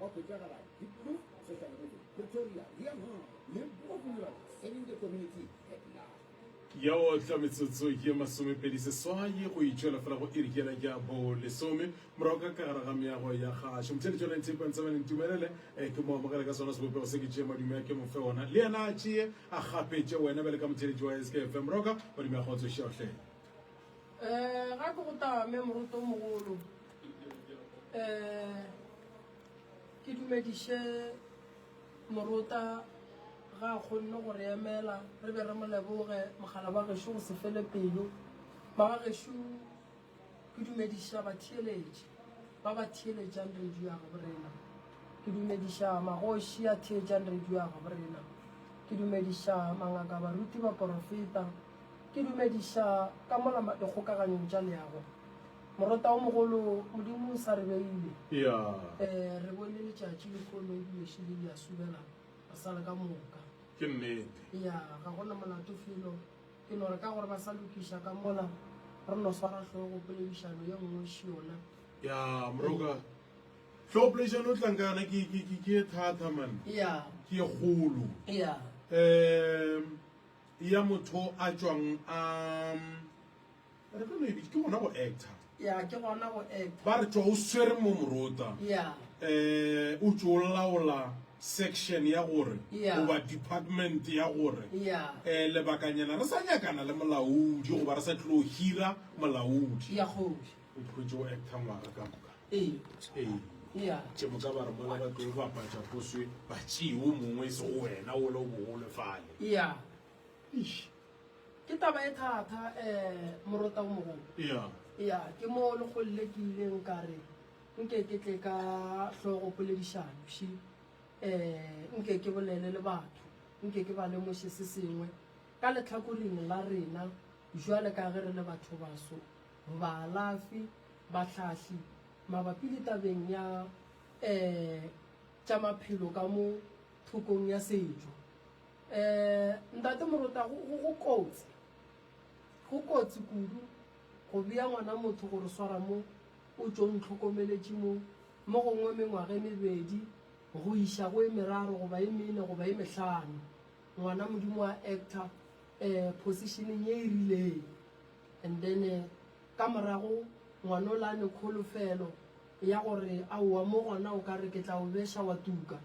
Wa Botsagala, Diepkloof, Soshanguve, Pretoria, Leeuwhoek, Limpopo Rural, Serving the Community at Large. ya o tla metsotso ye masomepedi seswai go itšwela fela go irikela ya bo lesome morago ka ka gare ga meago ya gašo motšhedi jona ntepe ntse ba ntumelele eh, ke mo amogele ka sona sebopego se ke tšee madume a ke mo fe ona le yena a tšee a gapetše wena bjale ka motšheletši wa skfm roka madume a kgotsošeotlhe Eh, ga ke go tame moroto mogolo eh ke dumediše morota ga a kgonne go re emela re be re mo leboge mogala ba gešo go se fele pelo ba ga gešo ke dumediša batheeletši ba ba theeletšang radio ya gabo rena ke dumediša magoši a theetšang radio ya gabo rena ke dumediša mangaka baruti ba porofeta Ke dumediša ka mola dikgokaganyong tša leago. Morota wo mogolo, Modimo o sa re beile. Ee, re bone letšatši le kgono e bješo le le a subela, re sa le ka moka. Ke nnete. Ee, ga go na molato felo. Ke no re ka gore ba sa lokiša ka mola, re no swara hlogo poledišano ye nngwe e šiyona. Ee, moroka, hlogo poledišano o tlang ka yona ke, ke, ke, ke ye thatha, man. Ee. Ke ye kgolo. Ee. Ee. ya motho a tšwang a re ka no e bitse ke gona go actor ya ke gona go actor ba re tšwa o swere mo morota ya eh o tšo laola section ya gore Yeah. goba department ya gore ya eh lebakanyana re sa nyakana le molaodi goba re sa tlilo hira molaodi ya kgobi O phutše o acta ngwaga ka moka. Ee. Ee. Ya. Ke moka ba re mola ba tlo bapatša go swe batšee o mongwe e se go wena ola o bogole fale. Ya. Eish. Ke taba e thata eh morota o mogolo. Ya. Ya, ke mo le golle ke ileng ka re nke ke tle ka hlogo poledišano she eh nke ke bolele le batho nke ke ba lemoše se sengwe ka letlhakoring la rena jwale ka ge re le batho baso baalafi, bahlahli mabapi le tabeng ya e tša maphelo ka mo thokong ya setšo. E, Ntate Morota, go, go, go kotsi, go kotsi kudu go bea ngwana motho go re swara mo o tšo ntlhokomeletše mo, mo gongwe mengwaga e mebedi go iša go e meraro goba e mene goba e mehlano, ngwana Modimo a acta e, positioneng ye e rileng. And then ka morago ngwana o la ne kholofelo ya gore aowa mo gona o ka re ke tla o beša wa tuka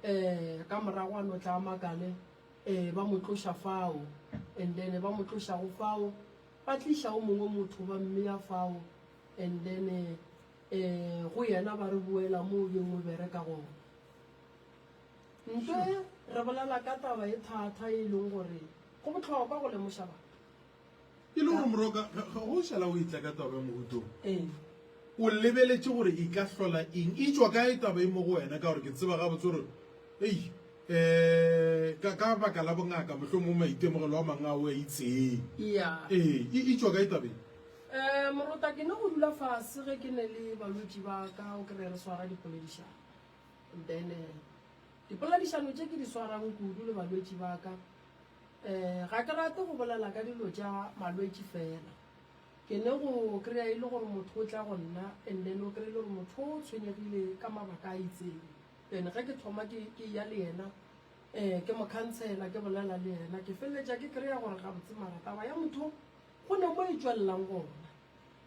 eh ka morago a no tla makale eh ba mo tloša fao and then ba mo tlošago fao ba tliša o mongwe motho ba mmeya fao and then eh go yena ba re boela mo o beng o bereka gona ntle re bolela ka taba e thata e leng gore go botlhokwa go lemoša batho e le gore moroka ga o šala o itla ka taba ya mogutong ee. o lebeletše gore e ka hlola eng e tšwa ka e taba e mo go wena ka gore ke tseba ga botse gore ei um ka baka la bongaka motlho mo maitemogelo a mangwe a o a itseng ee e, e tšwa ka e tabeng um morota ke ne go dula fase ge ke ne le balwetši ba ka o kry re swara dipoledišano then eh, dipoledišano tše ke di swarang kudu le balwetši ba ka Ga ke rate go bolela ka dilo tša malwetši fela. Ke ne go kry-a e le gore motho o tla go nna and then o kry-e le gore motho o tshwenyegile ka mabaka a itseng. Then ge ke thoma ke eya le yena ke mo khansela, ke bolela le yena, ke feleletša ke kry-a gore gabotse mara taba ya motho go ne mo e tšwelelang gona.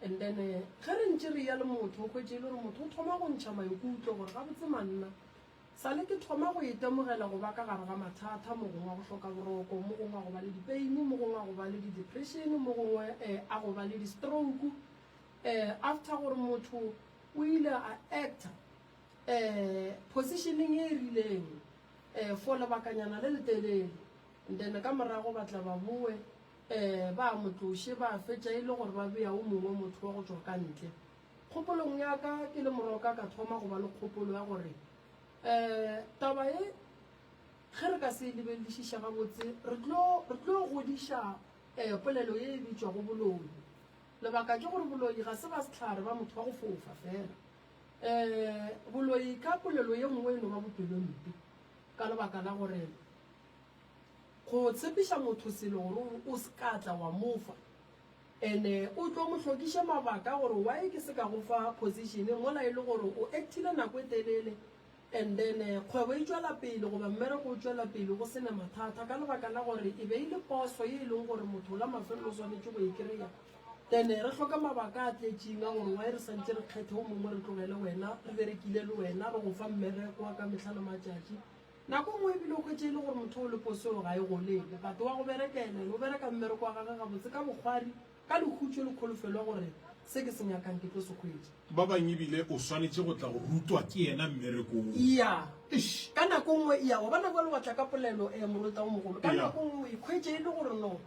And then ge re ntše re eya le motho o hwetše e le gore motho o thoma go ntšha maikutlo gore gabotse manna Sale ke thoma go itemogela go ba ka gare ga mathata, mo gongwe a go hloka boroko, mo gongwe a go ba le dipeini, mo gongwe a go ba le di-depression, mo gongwe um a go ba le di-stroke. Um after gore motho o ile a actor um positioneng e e rileng um for lebakanyana le letelele, and then ka morago ba tla ba boe um ba mo tloše, ba fetša e le gore ba bea o mongwe motho wa go tšwa ka ntle. Kgopolong ya ka ke le moroka ka thoma go ba le kgopolo ya gore um taba ye ge re ka se e lebelelišiša gabotse re tlo re tlo godiša um polelo ye e bitšwago boloi. Lebaka ke gore boloi ga se ba sehlare ba motho wa go fofa fela. Um boloi ka polelo ye nngwe e no ba bopelompe ka lebaka la gore go tshepiša motho selo gore o se ka tla wa mofa And o tlo mo hlokiše mabaka gore why ke se ka go fa position mola e le gore o actile nako e telele and then kgwebo e tšwela pele goba mmereko o tšwela pele go sena mathata ka lebaka la gore e be e le poso ye e leng gore motho la mafelelo o swanetše go e kry-a. Then re hloka mabaka a tletšing a gore why re santše re kgethe o mongwe re tlogele wena re berekile le wena re go fa mmereko wa ka mehla le matšatši. Nako nngwe e bile o hwetše e le gore motho o le posong ga e golele, but wa go berekela ene, o bereka mmereko wa gage gabotse ka bokgwari, ka lekhutšo le kholofelo ya gore se ke se nyakang ke tlo se hwetša. Ba bang e bile o swanetše go tla go rutwa ke yena mmereko wo. Eya. Eish! Ka nako nngwe, eya, wa bona bjalo wa tla ka polelo, ee, Morota wo Mogolo, ka nako nngwe o ikhwetše e le gore no.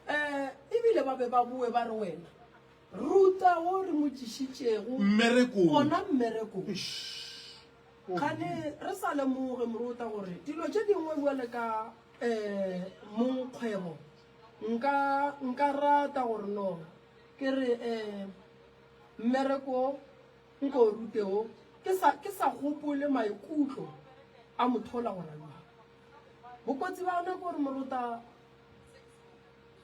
Ee, e bile ba be ba boe ba re, Wena, Ruta wo re mo tšišitšego gona mmerekong. Eish! Kgane re sa lemoge, Moruta, gore dilo tše dingwe bjale ka, ee, mong kgwebo. Nka, nka rata gore no ke re, ee, mmereko nko o rute wo, ke sa, ke sa gopole maikutlo a mothola gore a bjang. Bokotsi bja ona ke gore, Moruta,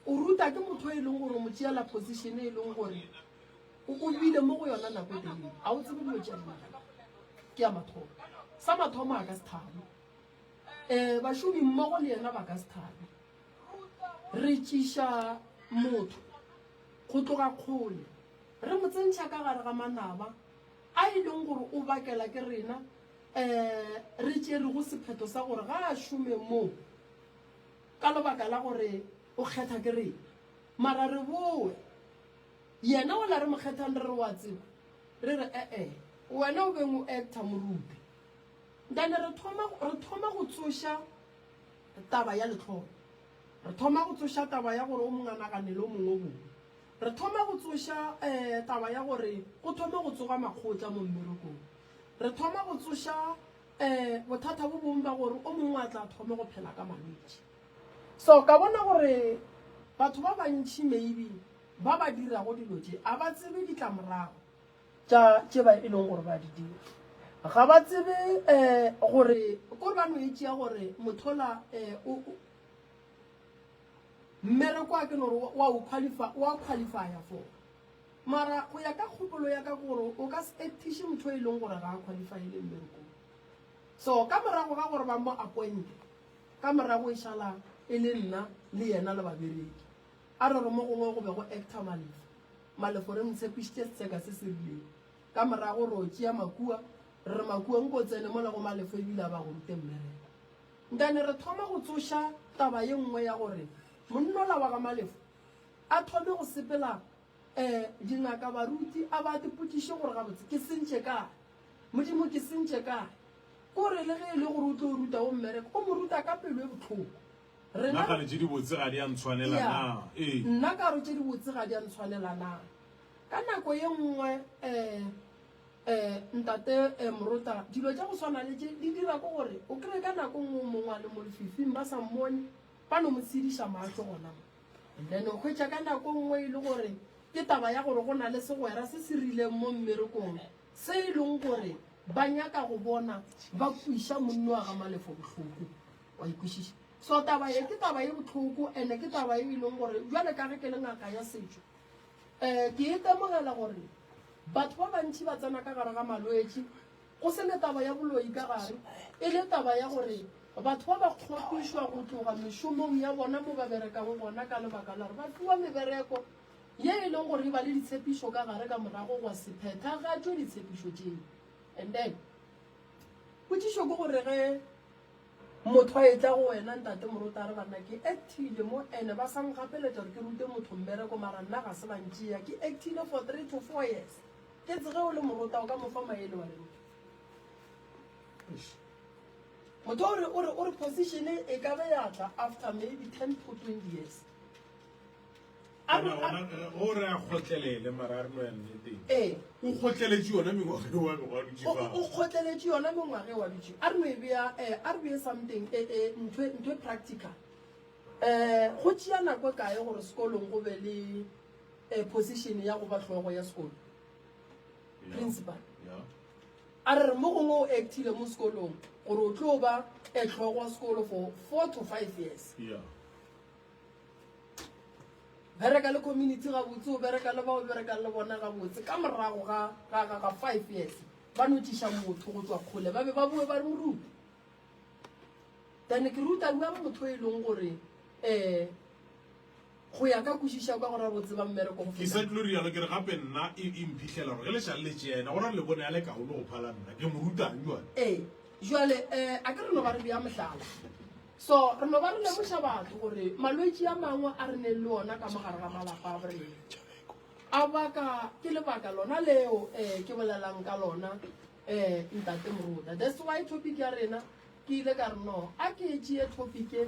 o ruta ke motho yo e leng gore o mo tšeela position e leng gore o bile mo go yona nako e telele a o tsebe dilo tša dinagana ke ya mathomo sa mathomo a ka se thabe um eh, bašomi mmogo le yena ba ka se thabe re tšiša motho go tloga kgole re mo tsentšha ka gare ga manaba a e leng gore o bakela ke rena um re tšerego sephetho sa gore ga a šome moo ka lebaka la gore o kgetha ke rena mara re boe Yena o la re Mokgethang re re wa tseba re re ee wena o beng o actor morupe ntane re thoma re thoma go tsoša taba ya letlholo re thoma go tsoša taba ya gore o monganaganele o mongwe bone re thoma go tsoša eh taba ya gore go thoma go tsoga makgotla mo mmerekong re thoma go tsoša eh bothata bo bong ba gore o mongwe a tla thoma go phela ka malwetši So ka bona gore batho ba bantši maybe ba ba dirago dilo tše a ba tsebe ditlamorago tša tše ba e leng gore ba di dira. Ga ba tsebe um gore kore ba no e tšea gore mothola um mmereko wa ke gore wa o qualify wa qualifya for mara go ya ka kgopolo ya ka ke gore o ka se actiše motho e leng gore ga a qualifyele mmerekong. So ka morago ga gore ba mo appointe Ka morago e šala e le nna le yena le babereki. A re re mo gongwe go be go actor Malefo. Malefo re mo tshepišitše setseka se se rilego. Ka morago re yo tšea Makua. Re re, Makua, nko o tsene mola go Malefo e bile a ba go rute mmereko. Ntane re thoma go tsoša taba ye nngwe ya gore monna ola wa ga Malefo a thome go sepela Ee, dingaka, baruti, a ba ke potšiše gore gabotse ke sentše kae. Modimo, ke sentše kae? Ke gore le ge e le gore o tlo ruta wo mmereko, o mo ruta ka pelo e bohloko. Rena, Nagane tše dibotse ga di a ntshwanela ya, na? Ee. nna ka gore tše dibotse ga di a ntshwanela na? Ka nako ye nngwe, ee, ee, Ntate, ee, Morota, dilo tša go swana le tše di dira ke gore o kree ka nako nngwe o mongwe a le mo lefifing ba sa mmone, ba no mo tsediša mahlo gona mo. Amen. O hwetša ka nako nngwe e le gore ke taba ya gore go na le segwera se se rileng mo mmerekong se e leng gore ba nyaka go bona ba kwiša monni wa ga malefo bohloko wa ikwešiša so taba ye ke taba ye botlhoko ande ke taba ye e leng gore jale ka ge ke le ngaka ya setšo um ke e temogela gore batho ba bantšhi ba tsena ka gare ga malwetši Go se ne taba ya boloi ka gare, e le taba ya gore batho ba ba kgopišwa go tloga mešomong ya bona mo ba berekago gona ka lebaka la gore ba fiwa mebereko ye e leng gore e ba le ditshepišo ka gare ka morago gwa se phethagatšwe ditshepišo tšeo. And then potšišo ke gore ge motho a etla go wena ntate morota re banna ke actile mo ene ba sa nkgapeletša gore ke rute motho mmereko mara nna ga se ba ntšea ke actile for three to four years Ke tse ge o le morota o ka mo fa maele wa reng? Motho o re o re o re position e ka be ya tla after maybe 10 to 20 years. A re o re a khotlelele mara re no ya nneteng. Eh, o khotleletše yona mengwaga e wa go dutše ba. O khotleletše yona mengwaga e wa dutše. A re no e bea eh a re bea something eh eh ntho ntho practical. Eh go tšea nako kae gore sekolong go be le eh, position ya go ba hlogo ya sekolo principal a re mo gongwe o actile mo sekolong gore o tlo ba etlhogo wa sekolo for four to five years bereka le community gabotse o bereka le bao berekang le bona gabotse ka morago ga five years ba notiša motho go tswa kgole ba be ba boe ba re moruta then ke ruta bua motho e leng gore um Go ya ka kwešišo ya kwa go ra go tseba mmereko go feta. Ke sa tlilo rialo ke re gape nna e, e mphihlera gore ge lešale le tšena go ra le bone ya le kaone go phala nna ke mo rutang jwale. Ee, jwale eh, a ke re no ba re bea mohlala. So re no ba re lemoša batho gore malwetši a mangwe a re neng le ona ka mogare ga malapa a borena a baka ke lebaka lona leo eh, ke bolelang ka lona eh, ntate moruta. That's why topic ya rena ke ile ka re no a ke tšee topic e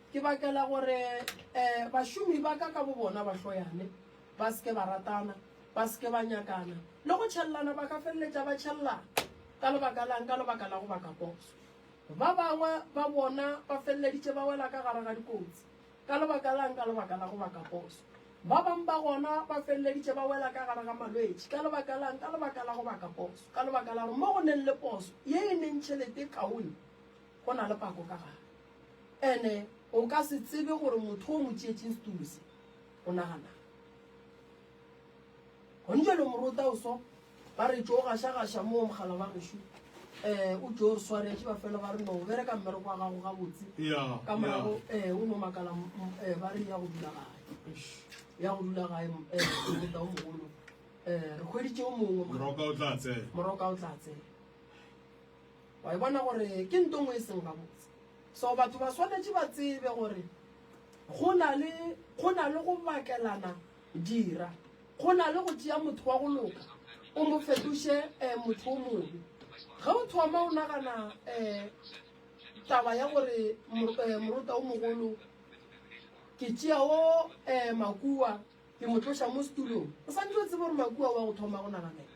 Ke bakela gore bašomi ba ka ka bobona ba hloyane, ba se ke ba ratana, ba se ke ba nyakana, le go tšhellana. Ba ka feleletša ba tšhellana. Ka lebaka la'ng? Ka lebaka la go baka poso. Ba bangwe ba bona ba feleleditše ba wela ka gare ga dikotsi. Ka lebaka la'ng? Ka lebaka la go baka poso. Ba bangwe ba gona ba feleleditše ba wela ka gare ga malwetši. Ka lebaka la'ng? Ka lebaka la go baka poso. Ka lebaka la gore mo go neng le poso ye e neng tšhelete e kaone, Go na le pako ka gare. Ene o ka se tsebe gore motho o mo tšeetšeng setulo se o naganang. Gone jalo morota o so ba re tšo gašagaša moo mogala wa gešo um o tšo re swaretše ba fela ba re no bereka mmereko wa gago gabotse ka morago um o no makala um ba re ya go dula gae ya go dula gae um morota o mogolo um re kgweditše o mongwe moroka o tla tsena Wa e bona gore ke nto ngwe e seng gabotse. So batho ba swanetše ba tsebe gore go na le go na le go bakelana dira, go na le go tšea motho wa go loka o mo fetoše eh, motho o mobe. Ge o thoma o nagana eh, taba ya gore eh, morota o mogolo ke tšea o eh, makua ke mo tloša mo setulong, o santse o tsebe gore makua wa go thoma go naganela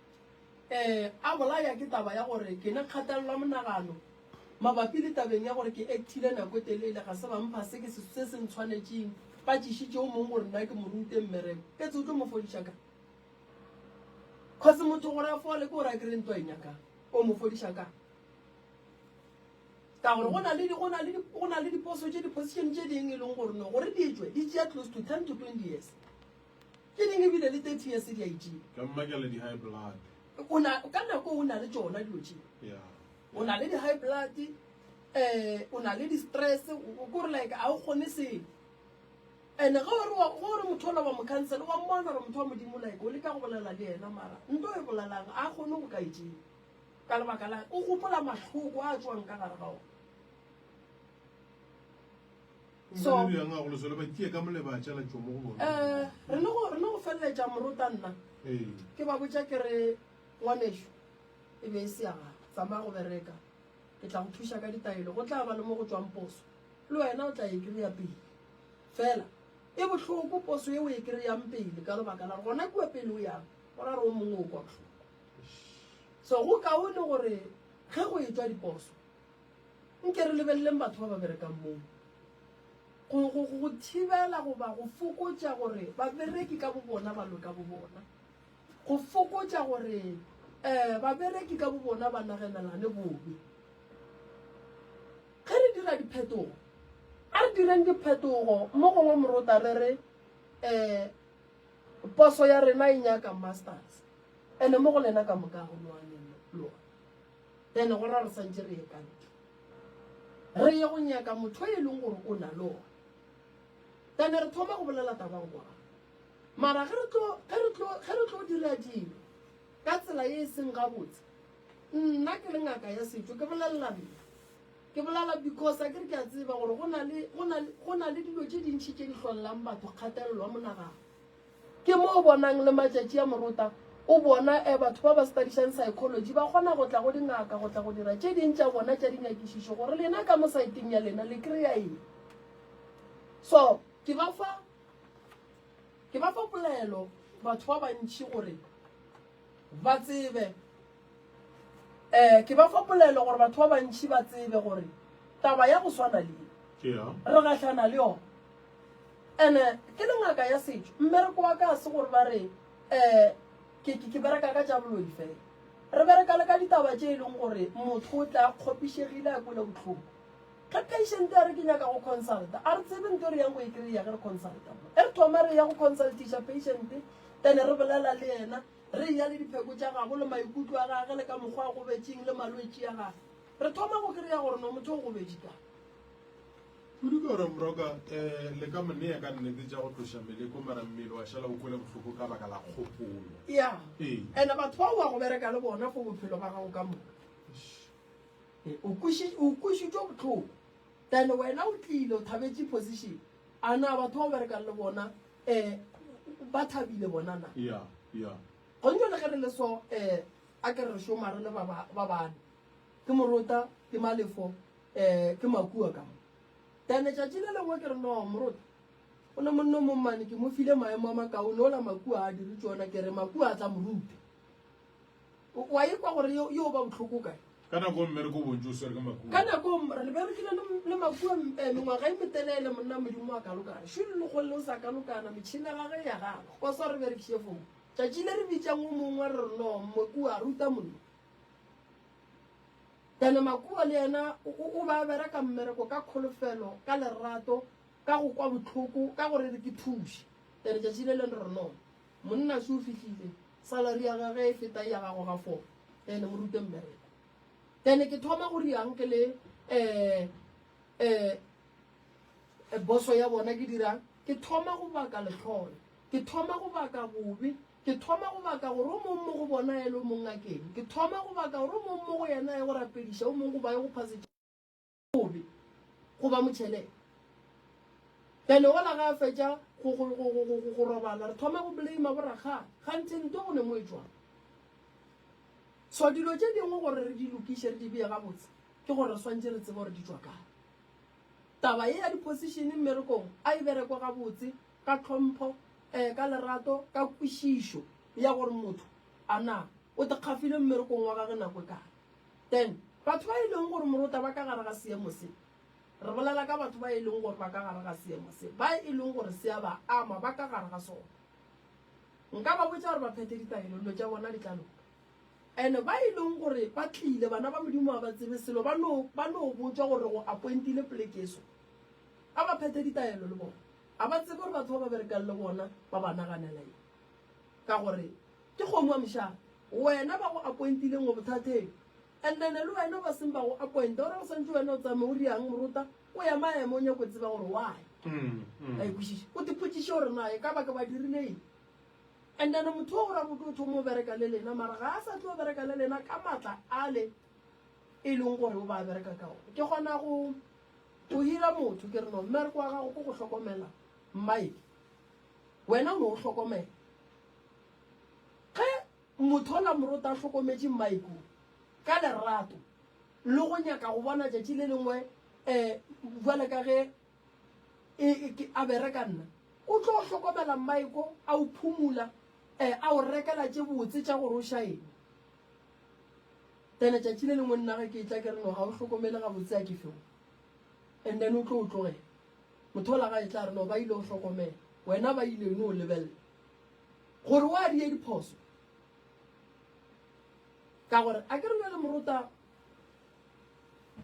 E a bolaya ke taba ya gore ke ne kgatelelwa monagano mabapi le tabeng ya gore ke ekthile nako e telele, ga se ba mpha se ke se se ntshwanetšeng. Ba tšišitše yo mongwe gore nna ke mo rute mmereko. Ke tse o tlo mo fodiša ka? Kgosi motho gore a fole ke gore a kry ntwa e nyakang. O mo fodiša ka? Ka gore go na le go na le go na le diposo tše di position tše ding e leng gore no gore di tšwe di tšea close to 10 to 20 years. Ke neng e bile le 30 years di a itšea. Ka mmakela di high blood. O na ka nako o na le tšona dilo tše. Yeah. O na le di high blood eh o na le di stress o gore like a o kgone selo. And ga o re wa go re motho ola wa mo cancel wa mmona gore motho wa modimo like o le ka go bolela le yena mara nto e bolelang a kgone go ka itšea. Ka lebaka la o gopola mahloko a tswang ka gare ga ona. So, Mongwe bjang a go lesole ba tšee ka mole ba tšela tšomo go bona. eh, re le go re le go feleletša morota nna Ee. ke ba botša ke re ngwanešu e be e se ya gago tsamaya go bereka ke tla go thuša ka ditaelo go tla ba le mo go tswang poso le wena o tla e kry-a pele fela e bohloko poso e o e kry-ang pele ka lebaka la gore gona kua pele o yang go ra re o mongwe o kwa bohloko so go kaone gore ge go e tswa diposo Nke re lebeleleng batho ba ba berekang moo. Go, go, go, go thibela goba go fokotša gore babereki ka bobona ba lwe ka bobona. Go fokotša gore um babereki ka bobona ba nagenelane bobe. Ge re dira diphetogo, a re direng diphetogo mo gongwe morota re re um poso ya rena e nyaka masters ene mo go lena ka moka ga go lwane lona. Then go ra re santše re ye ka ntle. Re ye go nyaka motho e leng gore o na le ona. Then re thoma go bolela tabang kwa. Mara ge re tlo ge re tlo ge re tlo dira dilo ka tsela e seng gabotse. Nna ke le ngaka ya setšo ke bolelela nna. Ke bolela because a ke re ke a tseba gore go na le go na le go na le dilo tše dintši tše di hlolelang batho kgatelelo ya monagano. Ke mo o bonang le matšatši a morota o bona eh batho ba ba stadišang psychology ba kgona go tla go dingaka go tla go dira tše ding tša bona tša dinyakišišo gore lena ka mo saeteng ya lena le kry-a eng. So ke ba fa ke ba fa polaelo batho ba bantši gore ba tsebe. Eh, ke ba fa polelo gore batho ba bantši ba tsebe gore taba ya go swana le re gahlana le yona and ke le ngaka ya setšo mmereko wa ka se gore ba re um ke bereka ka tša boloi fela re bereka le ka ditaba tše e leng gore motho o tla kgopišegile a kwele botlhoko ge patient ya re ke nyaka go consulta a re tsebe nto re yang go e kry-ya ge re consulta e re thoma re ya go consultiša patient then re bolela le yena Re eya le dipheko tša gabo le maikutlo a gage le ka mokgwa a gobetšeng le malwetši a gage. Re thoma go kry-a gore no motho o gobedi ka. Kudu ke gore mroka um le ka monea ka nnete tša go tloša meleko mara mmele wa šala o kwele bohloko ka baka la kgopolo. Ya. Ee. Ene batho ba wa go bereka le bona for bophelo ba gago ka moka. E, o kuši o kušitšwe botlhoko. Then wena o tlile o thabetše position. A na batho ba o berekang le bona um ba thabile bona na gontšo le ge re le so um a ke re šoma re le ba bane ke morota ke malefo um ke makua ka then letšatši le lengwe ke re no morota o ne monno mommane ke mo file maemo a makaone ola makua a dire tsona ke re makua a tla moruta O a ikwa gore yo yo ba botlhoko kae? Ka nako mme re ko bontši o swere ka makua. Ka nako mme re berekile le le makua eh, mengwaga e metelele monna modimo wa kalokana. Shulu le kgolle o sa kalokana metšhini ya gage ya gagwe. Wa swa re berekiše fomo. Tšatši le re bitšang o mongwe re re no makua ruta mollo. Ene makua le yena o ba bereka mmereko ka kholofelo ka lerato ka go kwa botlhoko ka gore re ke thuše. Ene tšatši le leng re no. Monna se o fihlile, salary ya gage e feta ya gago ga four. Ene mo rute mmereko. Then ke thoma go riang ke le eh eh e boso ya bona ke dirang ke thoma go baka letlhole ke thoma go baka bobe ke thoma go baka gore o mongwe mo go bona ele o mongwe a keng ke thoma go baka gore o mongwe mo go yena ye go rapediša o mongwe go ba ye go phase bobe go ba motšhelele then ola ga a fetša go robala re thoma go blame borakgale ganthe nto go ne mo e tswang so dilo tše dingwe gore re di lokiše re di beye gabotse ke gore re swantse re tsebe gore di tswa kae taba e ya di-position mmerekong a e berekwa gabotse ka tlhompho um ka lerato ka kwešišo ya gore motho a na o tekgafile mmerekong wa gage nako e kae Then, batho ba e leng gore morota ba ka gare ga seemo se, re bolela ka batho ba e leng gore ba ka gare ga seemo se, ba e leng gore se a ba ama, ba ka gare ga sona. Nka ba botša gore ba phethe ditaelo, dilo tša bona di tla loka. And ba e leng gore ba tlile, bana ba Modimo ga ba tsebe selo, ba no, ba no botšwa gore re go appointile poleke e so. A ba phethe ditaelo le bona. Ga ba tsebe gore batho ba ba berekang le bona ba ba naganela eng. Ka gore ke kgomo ya mošaga. Wena ba go appointileng o bothateng. And then le wena ba seng ba go appointa o ra go swantše wena o tsamaye o riang morota o ya maemo o nyaka go tseba gore why. Ba e kwešiša. O tipotšiše gore na e ka ba ke ba dirile eng. And then motho o gore a boke o thoma o bereka le lena mara ga a sa tlo bereka le lena ka matla ale e leng gore o ba bereka ka ona. Ke kgona go go hira motho ke re no mmereko wa gago ke go hlokomela mmaedi. Wena o no o hlokomela ge mothola morota a hlokometše mmae kua ka lerato le go nyaka go bona tšatši le lengwe um bjale ka ge e, e, ke, a bereka nna? O tlo hlokomela mmae ko a o phumula, um a o rekela tše botse tša gore o šaene. Then tšatši le lengwe nna ge ke etla ke re no ga o hlokomele gabotse a ke feo, and then o tlo o tlogela. Motholagae tla re no ba ile go hlokomela, wena ba ile no lebelela gore wa die diphoso. Ka gore a ke re bjale morota,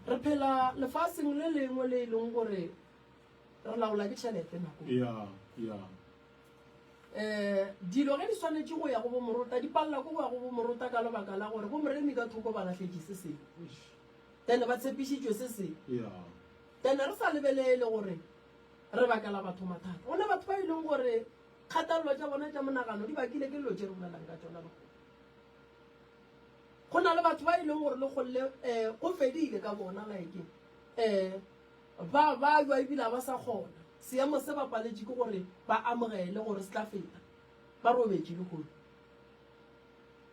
re phela lefaseng le lengwe le e leng gore re laola ke tšhelete nako e. Eh, dilo ge di swanetše go ya go bo morota, di palela ko go ya go bo morota ka lebaka la gore bo moremi ka thoko ba lahletše se sengwe. Then ba tshepišitšwe se sengwe. Ene re sa lebelele gore re bakela batho mathata. Go na batho ba e leng gore kgathalelo tša bona tša monagano di bakile ke dilo tše re bolelang ka tšona lehono. Go na le batho ba e leng gore le golle um go fedile ka bona like um ba ba jwa ebile ga ba sa kgona. Seemo se ba paletše ke gore ba amogele gore se tla feta, ba robetše lehono.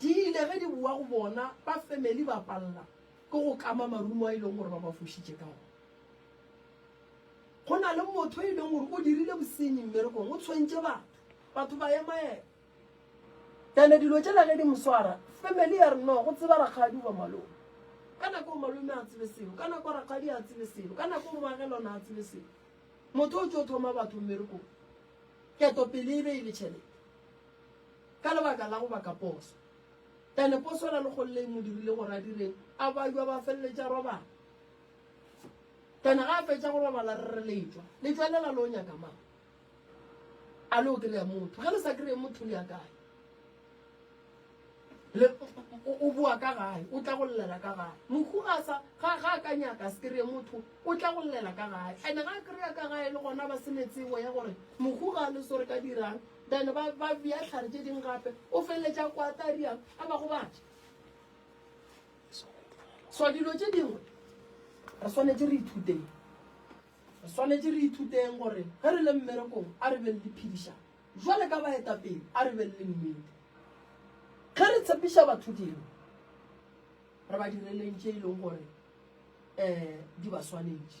Di ile ge di bowa go bona, ba family ba palela ke go kama marumo a e leng gore ba ba fošitše ka ona. Go na le motho e leng gore o dirile bosenyi mmerekong, o tshwentše batho, batho ba emaema. Then dilo tšela ge di mo swara, family ya re no, go tseba rakgadi goba malome. Ka nako eo malome a tsebe selo, ka nako rakgadi a tsebe selo, ka nako eo moagelwana a tsebe selo. Motho o tšo thoma batho mmerekong, ketopele e be e le tšhelete. Ka lebaka la go ba ka poso. Ene poso e ra legolo le e mo dirile gore a direng? A ba jwa ba feleletša robala. Ene ga a fetša go robala re re letšwa. Letšwa le la lo nyaka mang? A lo kry-a motho. Ge le sa kry-e motho le ya kae? Le o boa ka gae, o tla go llela ka gae. Mohu ga a sa ga ga a ka nyaka a se kry-e motho, o tla go llela ka gae. Ene ga a kry-a ka gae le gona ba se ne tsebo ya gore mohu ga a le so re ka dirang? Bene ba, ba bea hlare tše ding gape, o feleletša kwata riang a ba gobatša. So dilo tše dingwe re swanetše re ithuteng, re swanetše re ithuteng gore ge re le mmerekong a re be le diphedišano jwale ka baetapele, a re be le nnete. Ge re tshepiša batho dilo, re ba direleng tše e leng gore um di ba swanetše.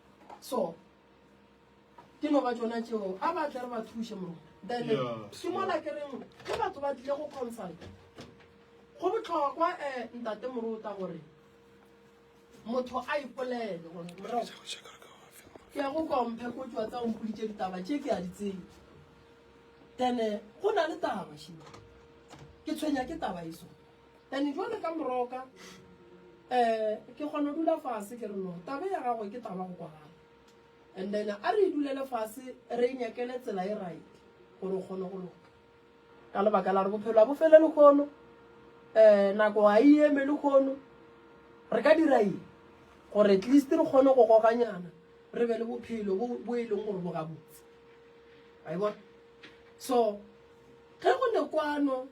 so ke no ba tsona tseo a ba tle re ba thuse mo then ke mola ke reng ge batho ba tlile go consult go botlhokwa um ntate morota gore motho a ipolele gore moro ke ya go komphe ko tswa tsa ompoditse ditaba tse ke a di tsebe then go na le taba shimo ke tshwenya ke taba eso Ene jwale ka moroka um ke kgona dula fase ke re no tabe ya gagwe ke taba go kwagala and then a re e dulele fase re e nyakele tsela e right gore o kgone go loka ka lebaka la re bophelo a bo fele le kgono um nako ga e eme le kgono re ka dira eng gore at least re kgone go goganyana re be le bophelo bo e leng gore bo gabotse a e bona so ge go ne kwano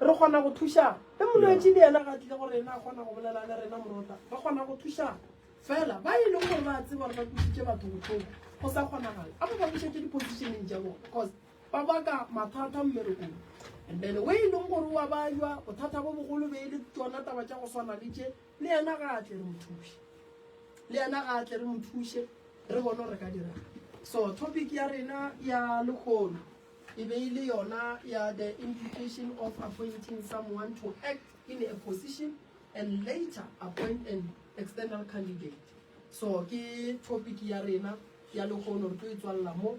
Re kgona go thušana. Ge molwetši le yena ga tlile gore ena a kgona go bolela le rena morota, re kgona go thušana. Fela ba e leng gore ba tseba gore ba kusitše batho botlhoko go sa kgonagale a ba ba bušetse dipositioneng tša bone because ba baka mathata mmerekong and then o e leng gore wa ba jwa bothata bo bogolo be e le tsona taba tša go swana le tše le yena ga a tle re mo thuše le yena ga a tle re mo thuše re bone re ka dirang so topic ya rena ya lekgolo e be e le yona ya the implication of appointing someone to act in a position and later appoint an external candidate so ke topic ya rena ya lekgono re tlo e tswalela mo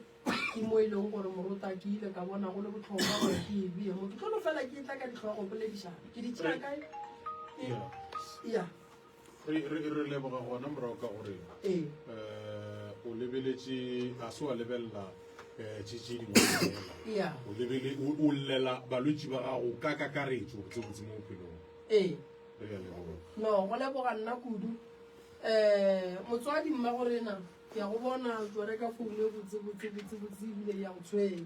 ke mo e leng gore morota ke ile ka bona go le botlhokwa gore ke e bee mo ke tlo no fela ke tla ka ditlhogo poledišana ke di tšea kae ya re leboga gona morago ka gore um o lebeletše a se wa lebelela um tše tše dingwea o lebele o llela balwetši ba gago ka kakaretso go tsebotse mo bophelong ee re ya leboga no go leboga nna kudu um motswadi mma go rena ke ya go bona tsware ka foune botsebotsebotsebotse ebile ya go tshwenya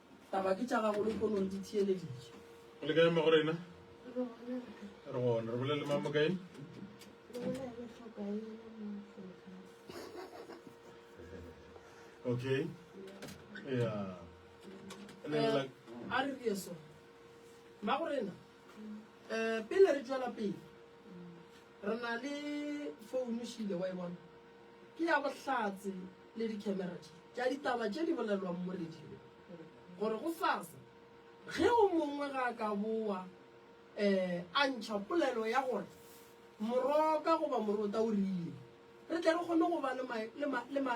Taba ke tša gago lehono di theeleditše. Go le kae mo go rena? Re gona, re bolele mang mo kae? Okay. Yeah. And then like Eh, a re re eso mma go rena um pele re tswela pele re na le founu šile wa e bona Ke ya bohlatse le dikemera tše tša ditaba tše di bolelwang mo radio gore gosasa ge o mongwe ga a ka bowa um a ntšha polelo ya gore moroka goba morota o rile, re tle re kgone go ba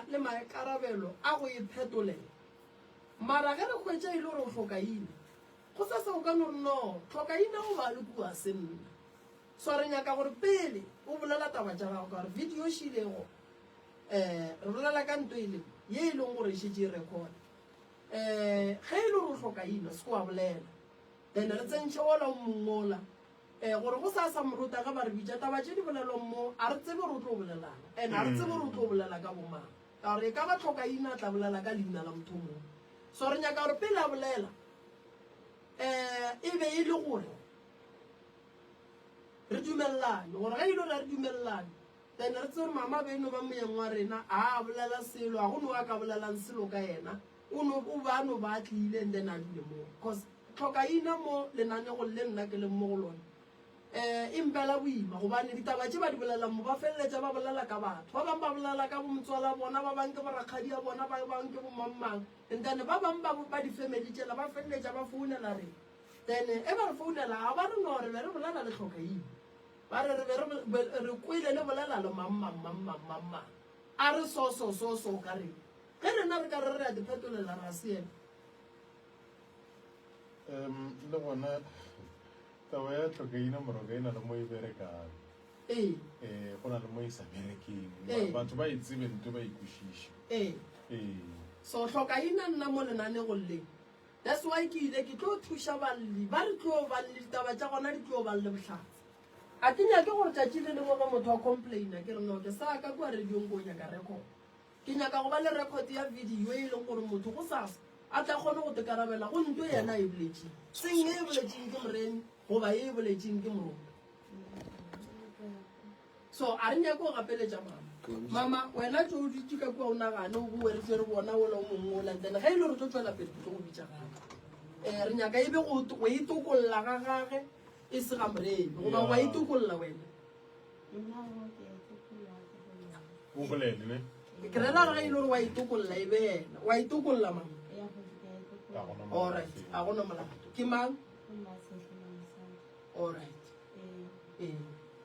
le maikarabelo a go e phetolela. Mara ge re hwetša e le gore o hlokaina, gosasa o ka no re, No, hlokaina o ba le kua se nna. So re nyaka gore pele o bolela taba tša gago ka gore video e šilego um re bolela ka nto e le ye e leng gore e šetse e record um ge e le gore o hloka ino se ko wa bolela then re tsentšhe ola o mongola um gore go sa sa morota ge ba re bitša taba tše di bolelwang mo a re tsebe gore o tlo bolelana and a re tsebe gore o tlo bolela ka bomang ka gore e ka ba tlhoka ino a tla bolela ka leina la motho mongwe so re nyaka gore pele a bolela um e be e le gore Re dumelelane, gore ge e le gore a re dumelelane, then re tsebe gore mama be e no ba moyeng wa rena, a a bolela selo, a go no a ka bolelang selo ka yena, o no, o ba a no ba a tlile and then a dule mo, cause tlhokaina mo lenanegong le nna ke leng mo go lone um e mpela boima, gobane ditaba tše ba di bolelang mo ba feleletša ba bolela ka batho, ba bangwe ba bolela ka bometswala bona, ba bangwe ke borakgadi ya bona, ba bangwe ke bomangmang and then ba bangwe ba ba di-family tšela ba feleletša ba founela rena. Then e ba re founela a ba re no re be re bolela le Hlokaile. Ba re re be re be re kwele le bolela le mang mang mang mang mang mang. A re so so so so o ka reng. Ge rena re ka re re a di phetolela ra seela. Em le gona taba ya Hlokaina Moroka e na le mo e berekang. Ee. Eh go na le mo e sa berekeng. Ba Ee. batho ba e tsebe nto ba e kwešiše. Ee. Ee. So Hlokaina nna mo lenaneong le. That's why ke ile ke tlo thuša balli ba re tlo ba le ditaba tša gona di tlo ba le bohlatse. A ke nyake gore tšatši le lengwe ge motho a complaina ke re no ke sa ka kua radiong ko nyaka record. Ke nyaka go ba le record ya video e leng gore motho go sasa a tla kgone go tekarabela go nto yena e boletšeng. Seng e boletšeng ke moreni goba e boletšeng ke morona. So a re nyake go gapeletša mama. Mama, wena tšo o dutše ka kua o nagane o boe re tšere bona ola o mongwe ola then ge e le gore tlo tšwela pele ke tlo go bitša gape. Um re nyaka e be go go itokolola ga gage e se ga morebe goba go a itokolola wena. o bolele ne Ke rera re ge e le gore wa itokolola e be yena wa itokolola mama. Ga gona mo- Alright, a go no molato. Ke mang? Alright. Ee.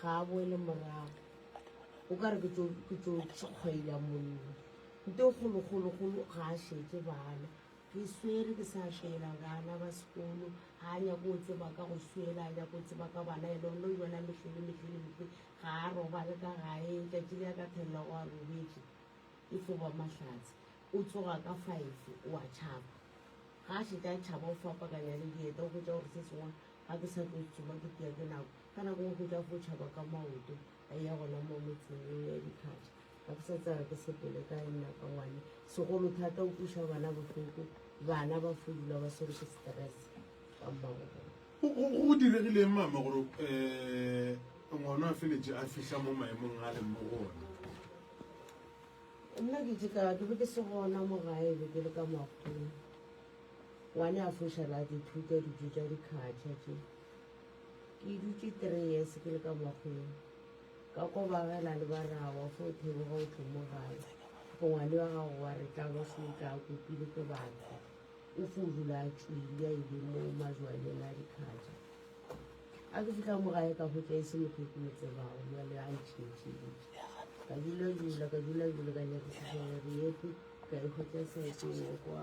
Ga a boele morago. O ka re ke tso ke tso tšhikgwaila mollo. Nto golo golo golo ga a šetse bana. Ke swere ke sa šela bana ba sekolo. Ga a nyake go tseba ka go swela, a nyake go tseba ka bana. Ene o no yona mehle le mehle le mehle. Ga a robale ka gae. Tšatši le a ka thelela go a robetše e fo ba Mahlatse. O tsoga ka five o a tšhaba. Ga a šetše a tšhaba o fapakanya le dieta o hwetša gore se sengwe Ga ke sa tlo tsoga ke tia ke nako. Ka nako nngwe go tla go tšhaba ka maoto a eya gona mo metseng yeo ya dikgatšha. Ga ke sa tseba ke sepele kae nna ka ngwane. Segolo thata o kweša bana bohloko, bana ba fudula ba swerwe ke stress ka mmagobolo. Go, go, go diregile eng mama gore um ngwana a feletše a fihla mo maemong a leng mo go ona? Nna ke tše ka ke be ke se gona mo gae, be ke le ka makgong. Ngwane a foša la dithuta dijo tša dikhatšha tše. Ke dutše three years ke le ka makgweng. Ka kwa ba gela le ba rawa fo theboga o tlo mo gae. Go ngwane wa gago wa re tla ba se tla kopile ke batho. O fo dula a tšwile a ile mo majwaneng a dikhatšha. A ke fihla mo gae ka hwetša e se motho o ke mo tsebago jale a ntšhentšheditše. Ka dula dula ka dula dula ka nyakisisa gore yepe ka e hwetša saeteng ya kwa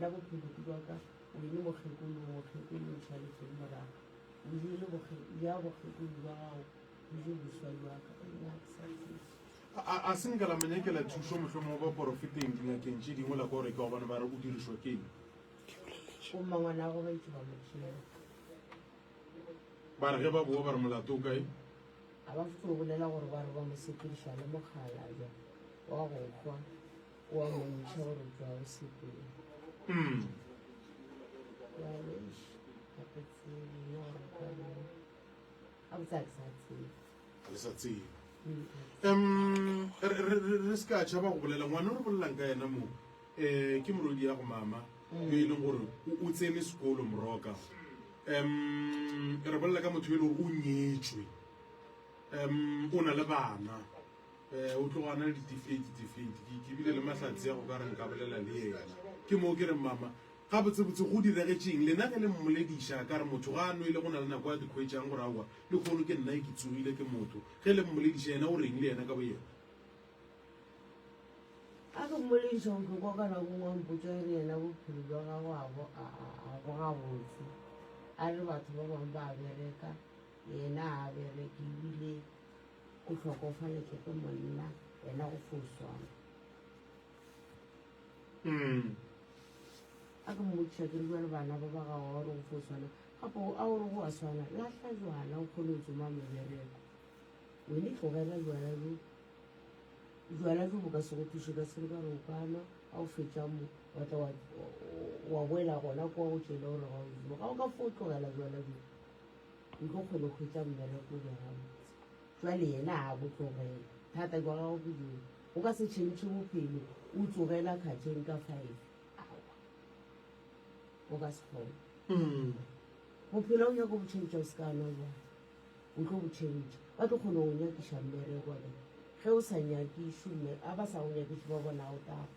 Na bophelo ke bwa ka? Wene mokgekolo, o mokgekolo, o tšhale tšhele morago. O jele bokge, ja bokgekolo bwa gago, o je boswa bwa ka. O ne a ke sa tsebe. A, a, a se nka la mo nyakela thušo, mohlomongwe ba porofeteng, dingakeng tše dingwe, la kwa gore ke wa bona ba re o dirišwa ke eng. O mmangwana go baitse ba mo tšhela. Ba re ge ba boa ba re molato o kae? A ba fetso go bolela gore ba re ba mo sepediša le mokgalabja wa go hwa. wa bontšha gore ga o sepele mm. ga le sa tsebe um re se ka tšhaba go bolela ngwana o re bolelang ka yena mo um ke morodi ya go mama yo e leng gore o tsene sekolo moroka um re bolela ka motho e le gore o nyetswe um o na le bana O tloga a na le ditifikeiti tse fedi. Ke, ke bile le mahlatse a go ka re nka bolela le yena. Ke moo ke reng, Mama, gabotsebotse go diregetse eng? Lena ge le mmolediša, a ka re, Motho ga a nwele, go na le nako a di hwetšang gore, Aowa, lekgono, ke nna e ke tsogile. Ke motho. Ge le mmolediša, yena o re'ng le yena ka boyena? Ga ke mmolediša, o tlo kwa ka nako e nngwe a mpotša gore yena bophelo bja gagwe ga bo, ga, ga, ga bo gabotse. A re batho ba bangwe ba a bereka, yena ga a bereke, ebile. O hlokofaletšwe ke monna, wena go fo swana. Mm. A ke mmotšiša ke re jwa le bana ba ba gago gore go fo swana. Gape a o re go a swana, lahla jwala o kgone go tsoma mebereko. Wene tlogela jwala jo. Jwala jo bo ka se go thuše ka selo ka re o ka nwa, a o fetša mo, wa tla wa boela gona kwa go tšele gore ga o jo. Ga o ka fo tlogela jwala jo. O tlo kgona go hwetša mmereko gabotse. Jwale yena a go tlogela. Thata jwa gago ke jone. O ka se tšhentšhe bophelo o tlogela kgatšeng ka five. Aowa. O ka se kgone. Bophelo o nyako bo tšhentšha o se ka nwa jwala. O tlo bo tšhentšha. Ba tlo kgona go nyakiša mmereko. Ge o sa nyakišwe, ga ba sa go nyakiše ba bona ga o tafa.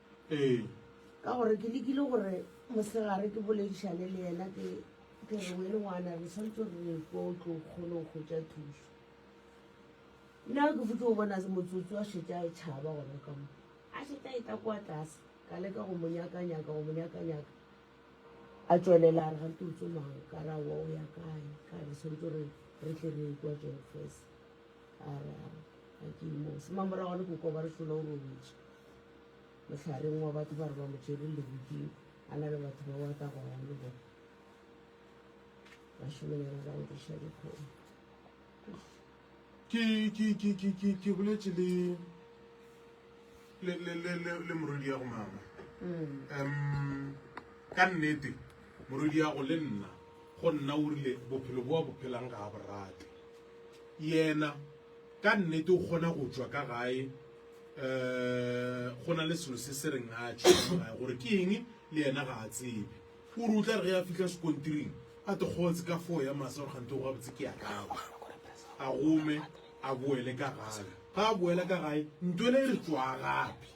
ee ka gore ke lekile gore mosegare ke boledišane le yena ke ke re wele ngwana re santse re re ko o tlo kgone go kgotsa thuso nna ke fotse go bona se motsotsi wa šetša e tšhaba gona ka mo a šetša e tla kwa tlase ka leka go monyakanyaka go monyakanyaka a tswelela a re ga ke utse mang ka ra wa o ya kae ka re santse re re tle re kwa jeng fes a ra ga ke imo se mamorago le kokoba re hlola o robetse Mohlareng wa batho ba re ba mo tšere leriting, a na le batho ba wa tla go ya le bona. Bašemanyana ba nkiša dikgomo. Ke, ke, ke, ke, ke, ke boletše le, le, le, le, le, le morwediago mama. Um, ka nnete, morwediago le nna, go nna o rile, bophelo bo a bo phelang ga a bo rate. Yena, ka nnete o kgona go tšwa ka gae, um go na le selo se se reng a tšhogae gore ke eng le yena ga a tsebe o re o tla re ge a fitlha sekontiring a tekgotse ka foo ya masa gore gante go gabotse ke ya kago a gome a boele ka gae ga a boela ka gae ntwele e re tswa gape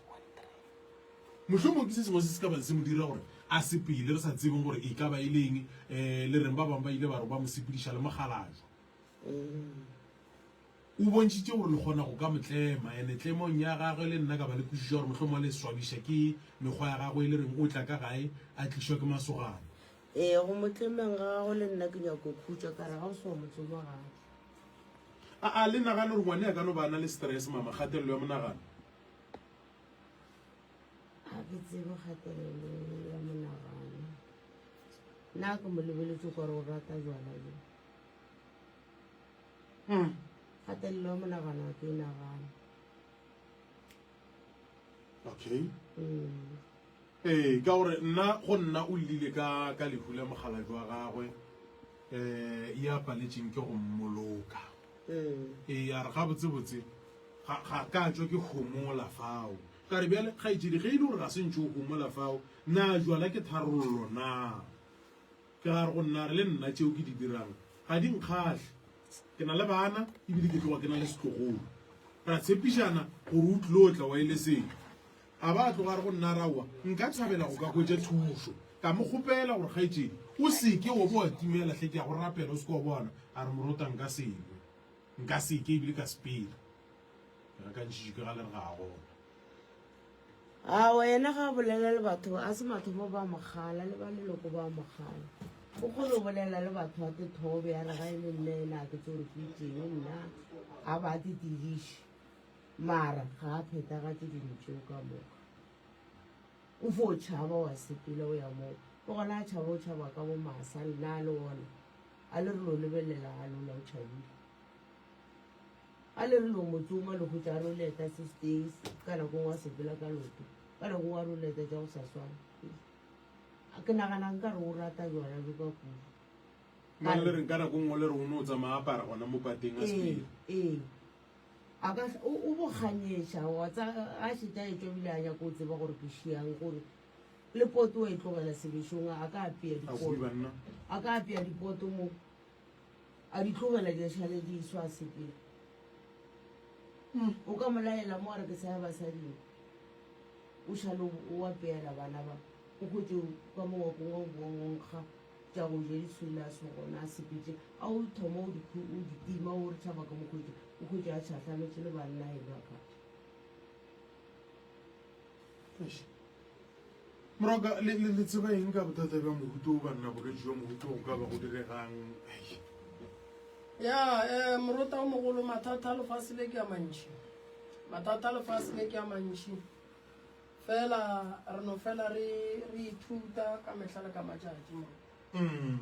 mohlomong ke se sengwe se se ka bang se mo dira gore a sepele re sa tsebeng gore e ka ba e leng um le reng ba bangwe ba ile ba re ba mo sepediša le mogalajwa mm. O bontšhitše gore le kgona go ka mo tlema, ene tlemong ya gagwe le nna ka ba le kwešišo ya gore mohlomongwe a le swabisha ke mekgwa ya gagwe e le reng o tla ka gae a tlišwa ke masogana. Ee, go mo tlemeng ga gago le nna ke nyako khutša ka re ga o se wa mo tsoma gape. A a le nagane gore ngwane a ka no ba a na le stress, mama, kgatelelo ya monagano? Ga ke tsebe kgatelelo ya monagano. Nna ke mo lebeletse gore o rata jwala bjo. Haa, kgatelelo ya monagano ga ke e nagane. Okay. Ee, ka gore nna go nna o llile ka ka lehu la mogalaju wa gagwe um ya paletseng ke go mmoloka. Ee, a re gabotsebotse ga ga ka tšwa ke homola fao. Ka re bjale kgaetšedi ge e le gore ga se ntše o homola fao, na jwala ke tharollo na? Ke ra go nna re le nna tšeo ke di dirang ga di nkgahle. Ke na le bana e bile ke tloga ke na le setlogolo. Ra tshepišana gore o tlil'o tla wa e le selo. A ba a tloga a re go nna, Raowa, nka thabela go ka hwetša thušo. Ka mo kgopela gore, Kgaetšedi, o se ke wa bo wa timela hle, ke a go rapela o se ke wa bona. A re, Morotwa, nka se hwe. Nka se ke e bile ka sepela. Ao, yena ga a bolela le batho, a se mathomo ba mogala le ba leloko ba mogala. O kgone go bolela le batho ba tethobe ya re ga e le nna ena a ke tse gore ke itseng nna a ba te tediše mara ga a phetagatse dilo tseo ka moka. O fo o tšhaba wa sepela o ya moo ke gona a tšhaba o tšhaba ka bo masa nna a le ona a le re lo lebelela a lola o tšhabile. A le re no mo tsoma le go tša roleta se stays ka nako ngwa sepela ka loto ka nako ngwa roleta tša go sa swana a ke nagana nka re o rata jwana jo ka kudu Mane le reng ka nako nngwe le re o ne o tsamaya apara gona mo pateng a spele ee a ka o bo kganyeša wa tsa a šeta e tšwabile a nyako o tseba gore ke šiang gore le poto wa e tlogela sebešong a ka apea dipoto a ka apea dipoto mo A di tlogela di šale di swa sepele. Umm o ka mo laela mo a re ke sa ya basading. O šale o apeela bana ba o hwetše o ka mo wa kongwa o bowa o nkga tša go ja di swilaso gona a sepetše a o thoma o di o di tima o re tšhaba ka mo hwetše o hwetše a tšhahlametše le banna e ba ka. Moroka, le, le, le tseba eng ka bothata bja mohuto wo, banna? Bogetši jwa mohuto go ka ba go diregang? Eish. Ya, eh, morota o mogolo, mathata a lefase le ke a mantši. Mathata a lefase le ke a mantši. Fela, re no fela re, re ithuta ka mehla le ka matšatši, morota. Mm.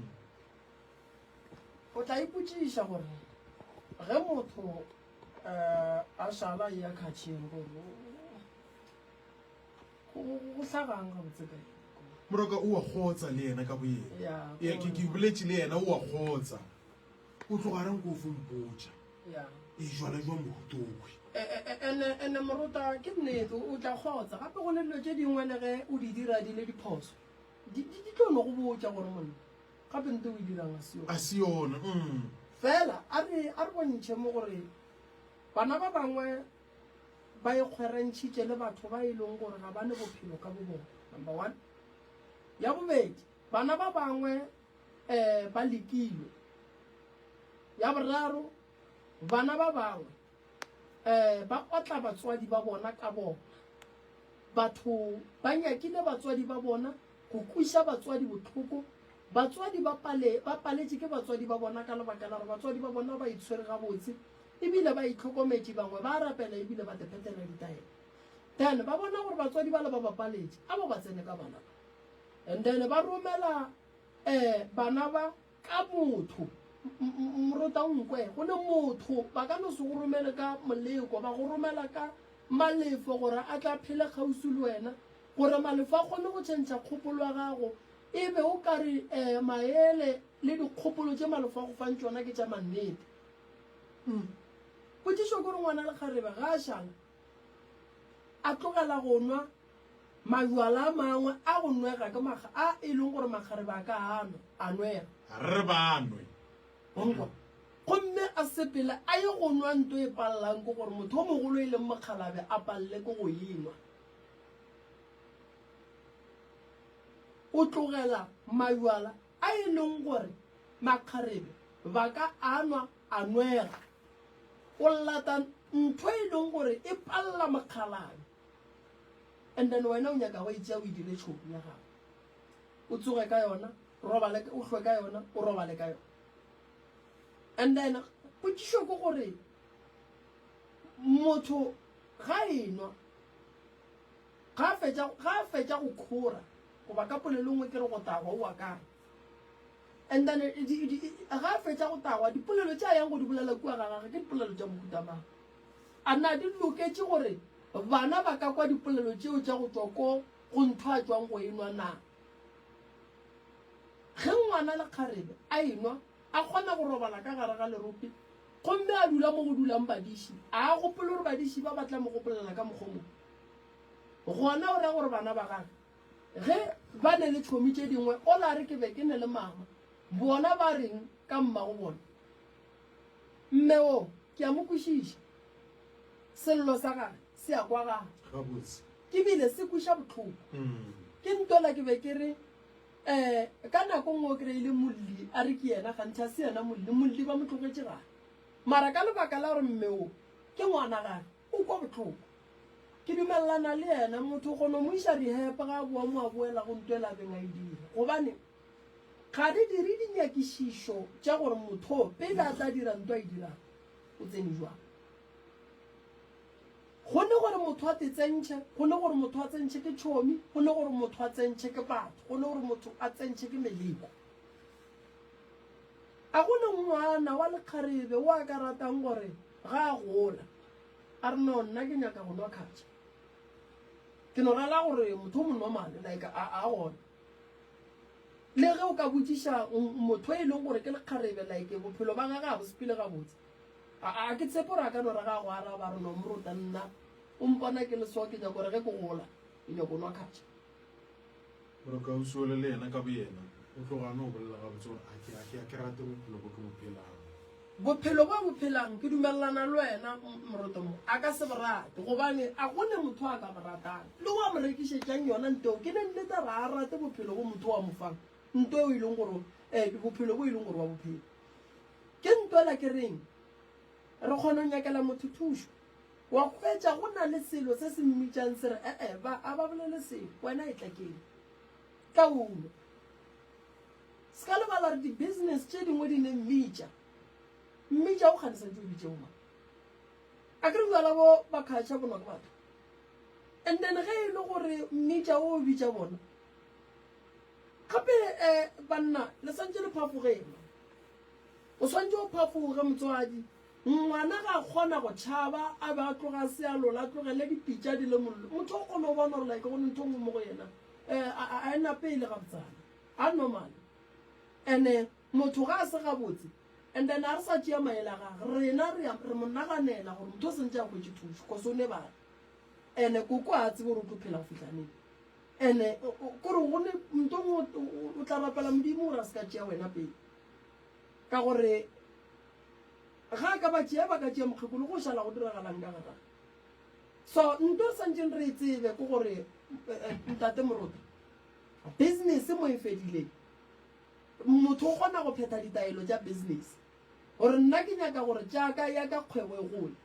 O tla ipotšiša gore, ge motho, eh, a šala a eya khatšheng, gore o, go sa bang gabotse ka moroka o a kgotsa le yena ka boyena ya ke ke boletše le yena o a kgotsa o tloga reng ko fo mpotša e jwala jwa morutokwe ene moruta ke nnete o tla kgotsa gape go ne dilo tše dingwe le ge o di dira di le diphoso di tlo no go botša gore monna gape nte o e dirang a se yona mm. fela a re bontšhe mo gore bana ba bangwe Ba ikgwerantšhitše le batho ba e lego gore ga ba ne bophelo ka bobona, number one. Ya bobedi, bana ba bangwe um ba lekilwe. Ya boraro, bana ba bangwe um ba otla batswadi ba bona ka bona. Batho ba nyakile batswadi ba bona go kweša batswadi bohloko. Batswadi ba paletše ke batswadi ba bona ka lebaka la gore batswadi ba bona ba itshwere gabotse. e bile ba itlhokometše, bangwe ba a rapela e bile ba tephethela ditaelo. Then ba bona gore batswadi bale ba bapaletše, a ba ba tsene ka bana ba. And then ba romela um bana ba ka motho. Mrota o nkwe, go ne motho, ba ka no se go romele ka moleko, ba go romela ka malefo gore a tla phele kgauswi le wena, gore malefo a kgone go tšhentšha kgopolo ya gago, e be o ka re um maele le dikgopolo tše malefo a go fang tšona ke tša mannete. Umm. Potšišo ke gore ngwana lekgarebe ga a šala a tlogela go nwa majwala a mangwe a go nwega ke makga a e leng gore makgarebe a ka a nwa, a nwega. Re ba nwe. O nkwa? Gomme a sepele a ye go nwa nto e pallang ke gore motho o mogolo e leng mokgalabe a palle ke go e nwa. O tlogela majwala a e leng gore makgarebe ba ka anwa a nwega o lata ntho e leng gore e palela mokgalane and then wena o nyaka go itsea o e dire tšhomo ya gago o tsoge ka yona robale o hlwe ka yona o robale ka yona and then potšišo ke gore motho ga enwa Ga fetša, ga fetša go khora, goba ka polelongwe ke re go tagwa, o a kae? And then, di, di, di, ga fetša go tagwa, dipolelo tša yang go di bolela kua ga gage, ke dipolelo tša mohuta mang? A na di loketše gore bana ba ka kwa dipolelo tšeo tša go tšwa ko go ntho a tšwang go enwa na? Ge ngwana le kgarebe a enwa, a kgona go robala ka gare ga lerope, gomme a dula mo go dulang badiši, a a gopole gore badiši ba ba tla mo gopolela ka mokgwa o mongwe? Gona o ra gore bana ba gage ge ba ne le tšhomi tše dingwe o la re ke be ke ne le mama. Bona ba reng ka mmago bona? Mme wo ke a mo kwešiša. Sello sa gage se a kwagala. Ke bile se kweša bohloko. Ke ntola ke be ke re, Um, ka nako nngwe o kry-ile Molli a re ke yena kganthe a se yena Molli. Molli ba mo tlogetše gae. Mara ka lebaka la gore mme wo ke ngwana gage, O kwa botloko. Ke dumelelana le yena, motho go no mo iša rehab ga a boa mo a boela go nto e la beng a e dira. Gobane ga re dire dinyakišišo tša gore motho pele a tla dira nto a e dirago, o tsene jwang. Go ne gore motho a tetsentšhe, go ne gore motho a tsentšhe ke tšhomi, go ne gore motho a tsentšhe ke batho, go ne gore motho a tsentšhe ke meleko. A go ne ngwana wa lekgarebe o a ka ratang gore Ga a gola, a re, No, nna ke nyaka go nwa khatša. Ke no rala gore motho o monormal, like, a, a gona. Le ge o ka botšiša motho yo e lego gore ke lekgarebe, like, bophelo ba gage ga bo sepele gabotse, a, a ke tshepe gore a ka no ra ga a go araba, a re, No, moruta, nna o mpona ke le so, ke nyaka gore ge ke gola, ke nyaka go nwa khatša. Gore Kausi ole le yena ka boyena o tloga a no bolela gabotse gore a ke a ke a ke rate bophelo bo ke bo phelang. Bophelo bo bo phelang ke dumelelana le wena moroto mo a ka se bo rate gobane a gone motho a ka bo ratang le wa mo rekišetšang yona nteo ke ne nnete ga a rate bophelo bo motho wa mo fang nto eo e leng gore eh bophelo bo e leng gore wa bophelo ke nto la ke reng re kgona go nyakela motho thušo Wa hwetša, go na le selo se se mmitšang, se re, E-e, ba, a ba bolele selo. Wena etla ke Kaulo. Se ka lebala gore di-business tše dingwe di ne mmitša. Mmitša, o kgane sa ntse o bitše omang? A ke re bjala bo ba khatšha bonwa ke batho? And then ge e le gore mmitša o bitša bona, gape um banna le sa ntše le phafogema. O swanetše o phafoge, motswadi. Ngwana ga a kgona go tšhaba, a be a tloga a se a lola, a tlogele dipitša di le mollo. Motho o kgona go bona gore like go ne ntho e nngwe mo go yena a e napele gabotsana, a normal. And-e motho ga a se gabotse, and then ga re sa tšea maele a gage, rena re re mo naganela gore motho o sentše a hwetše thušo cause o lebale. And-e koko ga a tsebe gore o tlo phela go fihla neng. And-e kore go ne ntho e nngwe o tla rapela Modimo gore a se ka tšea wena pele. Ka gore ga a ka ba tšea, ba ka tšea mokgekolo, go šala go diragalang ka ga gagwe? So nto re santšeng re e tsebe ke gore, Ntate Morope, business mo e fedile. Motho o kgona go phetha ditaelo tša business gore nna ke nyaka gore tša ka, ya ka kgwebo e gole.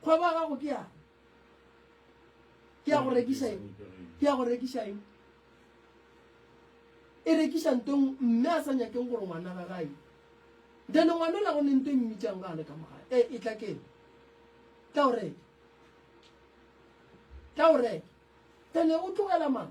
Kgwebo ya gago ke yang? ke ya go rekiša eng ke ya go rekiša eng e rekiša ntong mme a sa nyakeng gore ngwana ga gae then ngwana la go ne nto e mmitšang ga a le ka mogae e e tla keng tla o reka tla o reka then o tlogela mama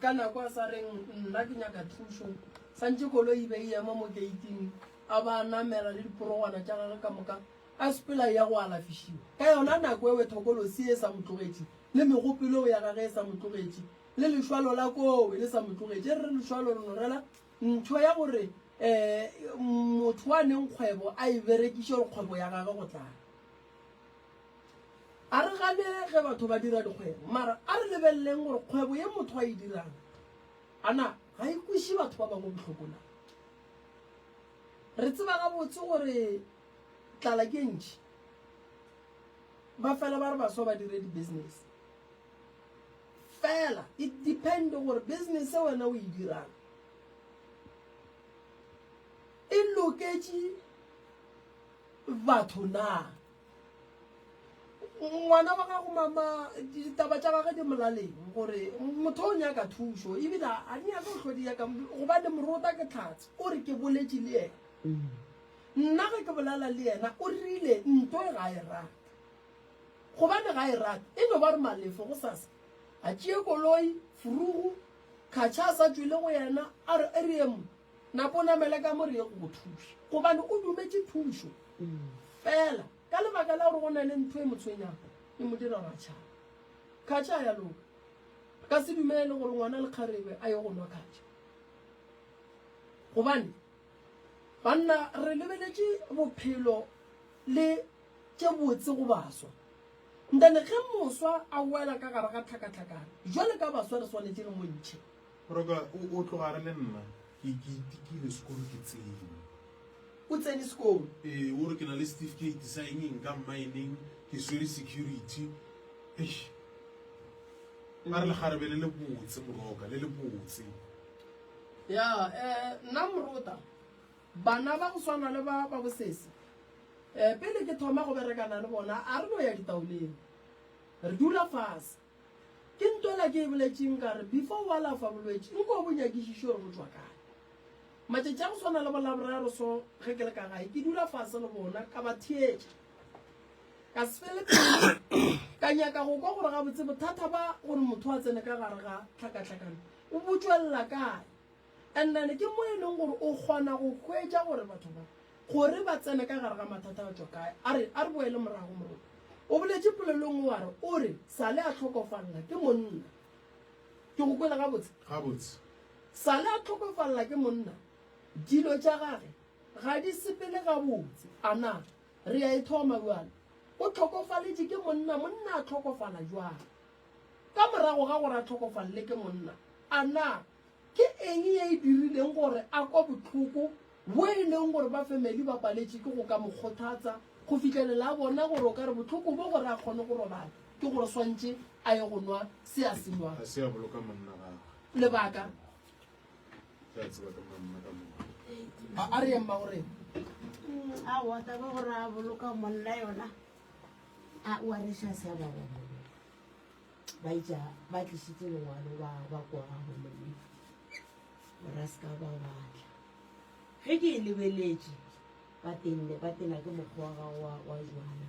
Ka nako a sa reng nna ke nyaka thušo, santše koloi e be e ema mo geiting, a ba a namela le diporogwana tša gagwe ka moka, a sepela a eya go alafišiwa. Ka yona nako ewe thokolosi ye e sa mo tlogetše, le megopelong ya gagwe e sa mo tlogetše, le lešwalo la kowe le sa mo tlogetše. E re lešwalo le norela ntho ya gore um motho wa neng kgwebo a e berekiše gore kgwebo ya gagwe go tlala. A re gane ge batho ba dira dikgwebo, mara a re lebeleleng gore kgwebo ye motho a e dirang, a na ga e kweše batho ba bangwe bohloko na? Re tseba gabotse gore tlala ke e ntši. Ba fela ba re baswa ba dire di-business. Fela it depend gore business ye wena o e dirang e loketše batho na. ngwana wa gago mama ditaba tša gage di molaleng gore motho o nyaka thušo ebile a di nyaka go hlodi yaka gobane morota ke tlhatse o re ke boletše le yena nna ge ke bolela le yena o rile nto e ga e rate gobane ga e rate e no ba re malefo go sasa a tšee koloi furugu kgatšha a sa tšwele go yena a re e re emo Napa o namele ka mo re ye go go thuša, gobane o dumetše thušo. Fela ka lebaka la gore go na le ntho e mo tshwenyago, e mo dira gore a tšhabe. Khatša a ya loka. Re ka se dumele gore ngwana le kgarebe a ye go nwa khatša. Gobane, banna, re lebeletše bophelo le tše botse go baswa. Nthane, ge moswa a wela ka gare ga tlhakatlhakana, bjale ka baswa re swanetše re mo ntšhe. Roka, o, o tlogare le nna. Ke, ke itikile sekolo ke tsene. O tsene sekolo? Ee, o re ke na le setifikeiti sa eng-eng ka mmaeneng, ke swere security. Eish! A re lekgarebe le lebotse, Moroka, le lebotse. Ya, eh, nna Morota, bana ba go swana le ba, ba bosese, eh, pele ke thoma go berekana le bona, a re no ya ditaoleng. Re dula fase. Ke ntola ke e boletšeng ka re before o alafa bolwetši nko o bo nyakišiše gore bo tšwa kae. Matšatši a go swana le bolaboraro so ge ke le ka gae ke dula fase le bona ka ba theetša ka se fele pelo ka nyaka go kwa gore gabotse bothata ba gore motho a tsene ka gare ga tlhakatlhakano o botšwelela kae And then ke mo e leng gore o kgona go hwetša gore batho ba gore ba tsene ka gare ga mathata a tšwa kae. A re a re boele morago moroko. O boletše polelong o are o re sale a tlhokofalela ke monna. Ke go kwele gabotse? Gabotse. Sale a tlhokofalela ke monna, dilo tša gage ga di sepele gabotse. A na re a e thoma bjale? O tlhokofaletše ke monna, monna a tlhokofala bjale. Ka morago ga gore a tlhokofalele ke monna, a na Ke eng ye e dirileng gore a kwa bohloko bwo e lego gore ba fameli ba paletše ke go ka mo kgothatsa go fihlelela a bona gore o ka re bohloko bjo gore a kgone go robala ke gore swantše a ye go nwa se a se nwago? Ga se a boloka monna gagwe. Lebaka? Ke a tseba ka monna ka moka. A, a re yeng mma o reng? Aowa, taba ya gore a boloka monna yona a o a re xa se a ba gona. ba itša ba tlišitse lengwalo ba ba kora gomme ra se ka ba batla ge ke e lebeletše ba tenne ba tena ke mokgwa wa gago wa wa jwana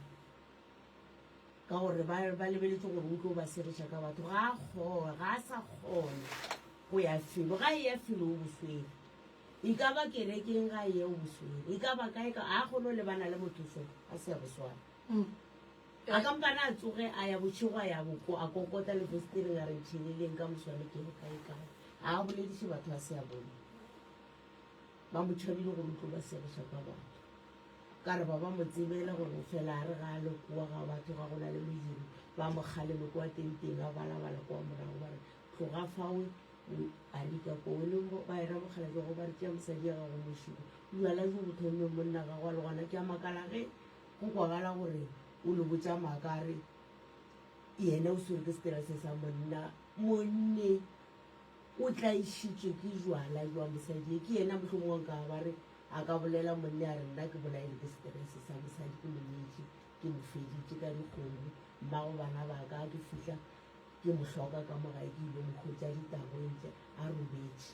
ka gore ba ba lebeletse gore o tlo ba seretša ka batho ga a kgona ga a sa kgona go ya felo ga e ya felo o boswere e ka ba kerekeng ga e ya o boswere e ka ba kae ka a kgone go lebana le motho fela a se ya boswana mm. A ka mpane a tsoge a ya bošego a ya boko, a kokota le festiring a re ntšheleleng ka moswane ke re kaekae. A a bolediše batho a se a bone. Ba mo tšhabile gore o tlo ba segiša ka batho. Ka re ba ba mo tsebele gore o fela a re ga a le kwa ga batho ga go na le modiro, ba mo kgaleme kwa tenteng a balabala kwa morago ba re, Tloga fawe, o a rika kwa. O le bagera mokgalabje go ba re tšea mosadi ya gago mošuku. Bjala bjo bo thomilwe monna gagwe a le gona ke a makala ge Go kwagala gore o lo botša maaka a re yena o swere ke seterese sa monna. Monne o tlaišitšwe ke jwala jwa mosadi ye. Ke yena mohlomongwe a nkago ba re a ka bolela monne a re nna ke bolailwe ke seterese sa mosadi, ke mo nyetše, ke mo feditše ka dikgomo. Mmago bana ba ka, ke fihla ke mo hloka ka mo gae, ke ile mo hwetša ditagweng tše a robetše.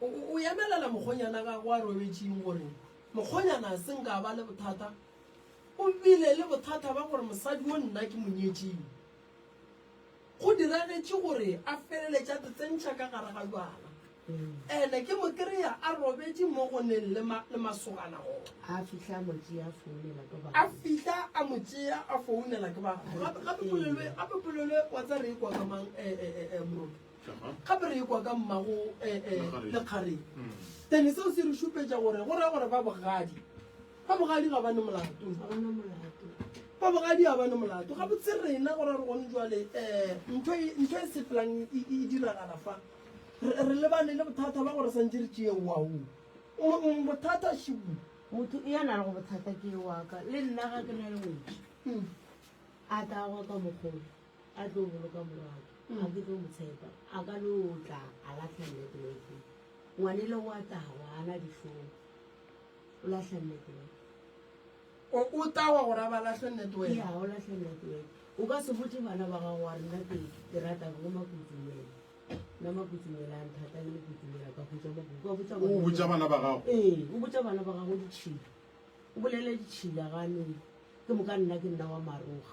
O, o, o emelela mokgonyana gago a robetšing gore mokgonyana a se nka ba le bothata. O bile le bothata ba gore mosadi o nna ke monyetšing. Go diragetše gore a feleletša tsetsentšha ka gare ga jwala. Ene ke mo kry-a a robetše mo go neng le, ma, le masogana gona. A fihla a mo tšea a founela ke batho. A fihla a mo tšea a founela ke batho. Gape, gape polelo e, gape polelo e wa tsa re e kwa ka mang, eh, eh, eh, eh, Moroto? gape re ekwa ka mmago eh, eh, lekgareng then seo se re šupetša gore go raya gore ba bogadi ba bogadi ga bane molato ba bogadi ga bane molato ga botse rena gore re gone jale um eh, ntho e, ntho e sepelang e, e, e diragala fa re lebane le bothata ba gore santse re tšee wao bothata šibu motho e yana le go bothata ke waka le nna ga ke na le wetse hmm. a tla go ka mogolo A tlo boloka morwake, ga ke tlo mo tshepa. A ka no tla a lahla nnete mo e tleng. Ngwanele o a tawa, ga a na dihlong. O lahla nnete mo e tleng. O o tawa gore a ba lahle nnete wena? Eya, o lahla nnete mo e tleng. O ka se botše bana ba gago wa re nna ke ke rata bo Makutsumela. Nna Makutsumela a nthata le Mokutsumela ka hwetša mo go. O ka botša bana. O botša bana ba gago? Ee, o botša bana ba gago ditšhila. O bolela ditšhila ga a no. Ke moka nna ke nna wa Maroga.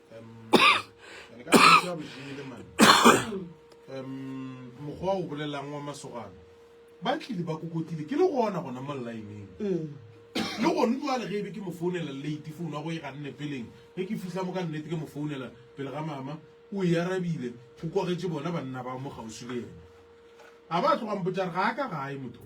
mokgwa o bolelang wa masogana ba tlile ba kokotile ke le gona gona mo lineng mm. le gone jale ge e be ke mo founela late founu ya go e ga nne peleng ge ke fitlha mo ka nnete ke mo founela pele ga mama o e arabile go kwagetse bona banna ba mo gausi le ena ga ba tlogang botjare ga a ka gae motho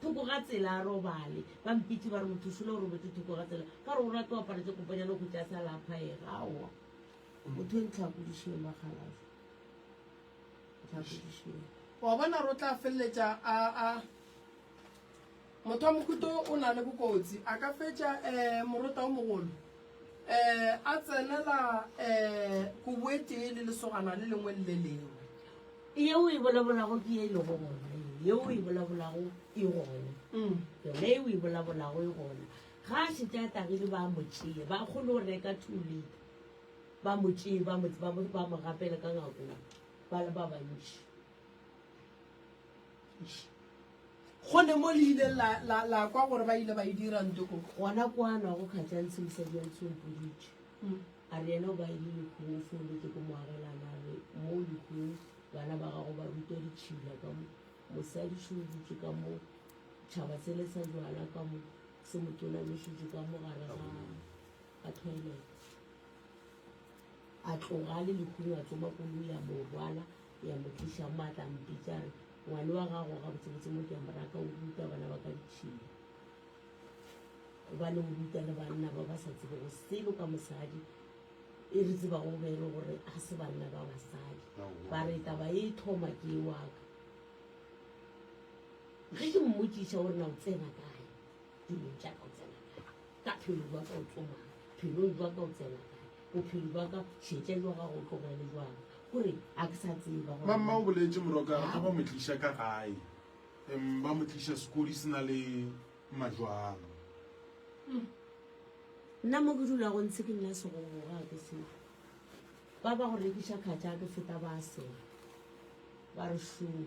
Thoko ga tsela a robale. Ba mpitše ba re, Mothošola o robetše thoko ga tsela. Ka gore o rata go apara tše kopanyana o hwetše a sa laphaege. Aowa. O motho yo ntlhakodišeng, bakgalase. Ntlhakodišeng. O a bona, re o tla feleletša a, a. Motho wa mohuta wo o na le bokotsi. A ka fetša, ee, morota wo mogolo. a tsenela kobo e tee le lesogana le lengwe le le lengwe. Yeo o e bolabolago ke ye e lego gona ye, yeo o e bolabolago e gona, yona ye o e bolabolago e gona. Ga a šetše a tagile, ba mo tšea, ba kgone go reka two litre, ba mo tšee, ba mo, ba mo, ba mo gapele ka ngakong, ba le ba bantši. Gone mo le ileng la, la, la kwa gore ba ile ba e dira nto ko. Gona kwa a nwago kgatša ntshe mosadi a ntshe o mpoditše. A re yena o ba ile Lekgong o foolotse ko moagelana a re mo Lekgong bana ba gago ba rutwa ditšhila ka mo, mosadi šo o dutše ka mo, tšhaba sele sa jwala ka mo, se mo tonamišitše ka mo gare ga, ga toilet. A tloga a le Lekgong a tsoma koloi a mo rwala. Ya mo tliša mo a tla mpitša re, Ngwane wa gago gabotsebotse mo ke a mo raka, o ruta bana ba ka ditšhila. Gobane o ruta le banna ba ba sa tsebego selo ka mosadi, e re tsebago be e le gore ga se banna ba basadi. Ba re taba e thoma ke e wa ka. Ge ke mmotšiša gore na o tsena kae, Dilong tša ka o tsena kae? Ka phelong jwa ka o tsomang? Phelong jwa ka o tsena kae? Bophelo jwa ka šetša jwa gago o tlogele jwang? Gore a ke sa tseba gore. Mamma o boletše morokare ge ba mo tliša ka gae, em, ba mo tliša sekodi se na le majwang. Nna mo ke dulago ntshe ke nna segogo ga ke se. Ba ba go rekiša kgatša ke feta ba sela. Ba re šoo.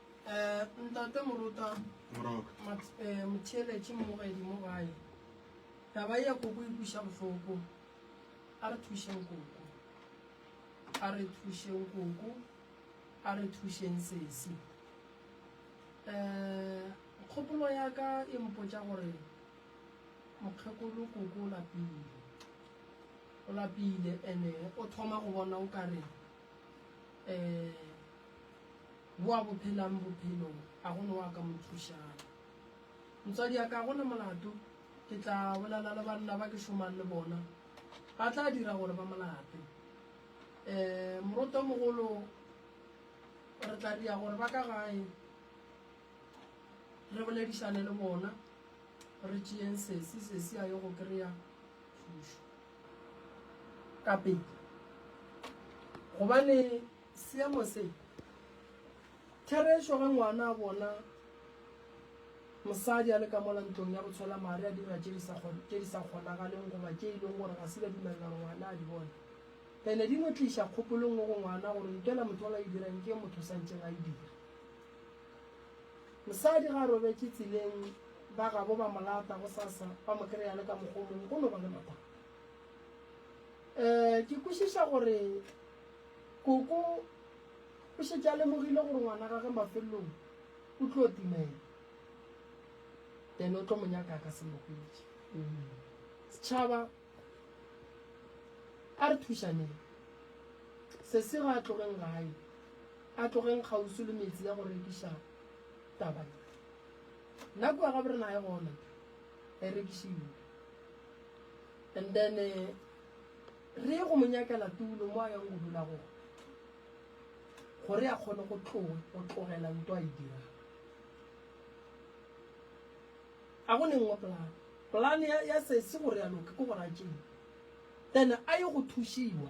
Eh, ntate Morota, Mat, eh, Motheeletše mmogedi mo gae. Taba ya koko e kuša bohloko. A re thušeng koko. A re thušeng koko. A re thušeng sesi. Eh, kgopolo ya ka e mpotša gore mokgekolo koko o lapile. O lapile ene o thoma go bona o ka re um wa bo phelang bophelong a gone wa ka mo thušang motswadi ya ka gone molato ke tla bolela le banna ba ke šomang le bona ba tla dira gore ba molape um moroto mogolo re tla dira gore ba ka gae re boledišane le bona re tšeyeng sesi sesi a ye go kry-a thušo ka pele gobane seemo se therešo ge ngwana a bona mosadi a le ka mola ntlong ya botshwela mare a dira tše di sa kgonagaleng goba tše e leng gore ga se ba dumelela gore ngwana a di bone ene di no tliša kgopolong go ngwana gore ntwela motho o la e dirang ke motho sa ntseng a e dira Mosadi ge a robetše tseleng, ba gabo ba mo lata gosasa, ba mo kry-a le ka mokgwa o mongwe, go no ba le mathata. Um ke kwešiša gore koko o šetše a lemogile gore ngwana gage mafelelong o tlo timela, then o tlo mo nyaka a ka se mo hwetše. Setšhaba a re thušaneng, sesi ga a tlogeng gae. A tlogeng kgauswi le metse ya go rekiša taba ye. Nna kua ga borena ga e gona, e rekišilwe. And then re ye go mo nyakela tulo mo a yang go dula gona gore a kgone go tlogela nto a e dirang. A go ne nngwe polane. Polane ya sesi gore ya loka ke gore a tšee then a ye go thušiwa.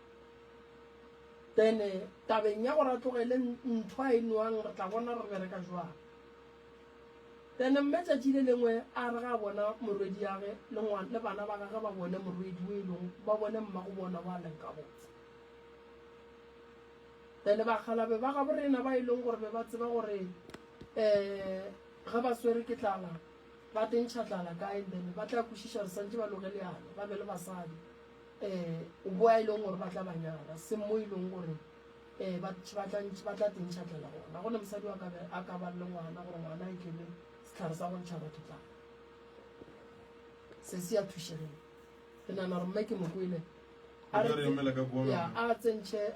Then tabeng ya gore a tlogele ntho a e nwang re tla bona re bereka jwang. Then mme tšatši le lengwe a re ga bona morwedi yage le ngwana le bana ba gage ba bone morwedi o e leng ba bone mma go bona wa leng ka botse. Then bakgalabe ba ga borena ba e leng gore be ba tseba gore um ge ba swere ke tlala ba tentšha tlala kae then ba tla kwešiša re santše ba loge leano ba be le basadi. um bo a e leng gore ba tla ba nyala seng mo e leng gore um ba tla tentšhatlela gona gone mosadi wa kabe a ka ba le ngwana gore ngwana e kele setlhare sa go ntšha batho tla se se ya thušegeng ke nana gore mme ke mokwele a tsentšhe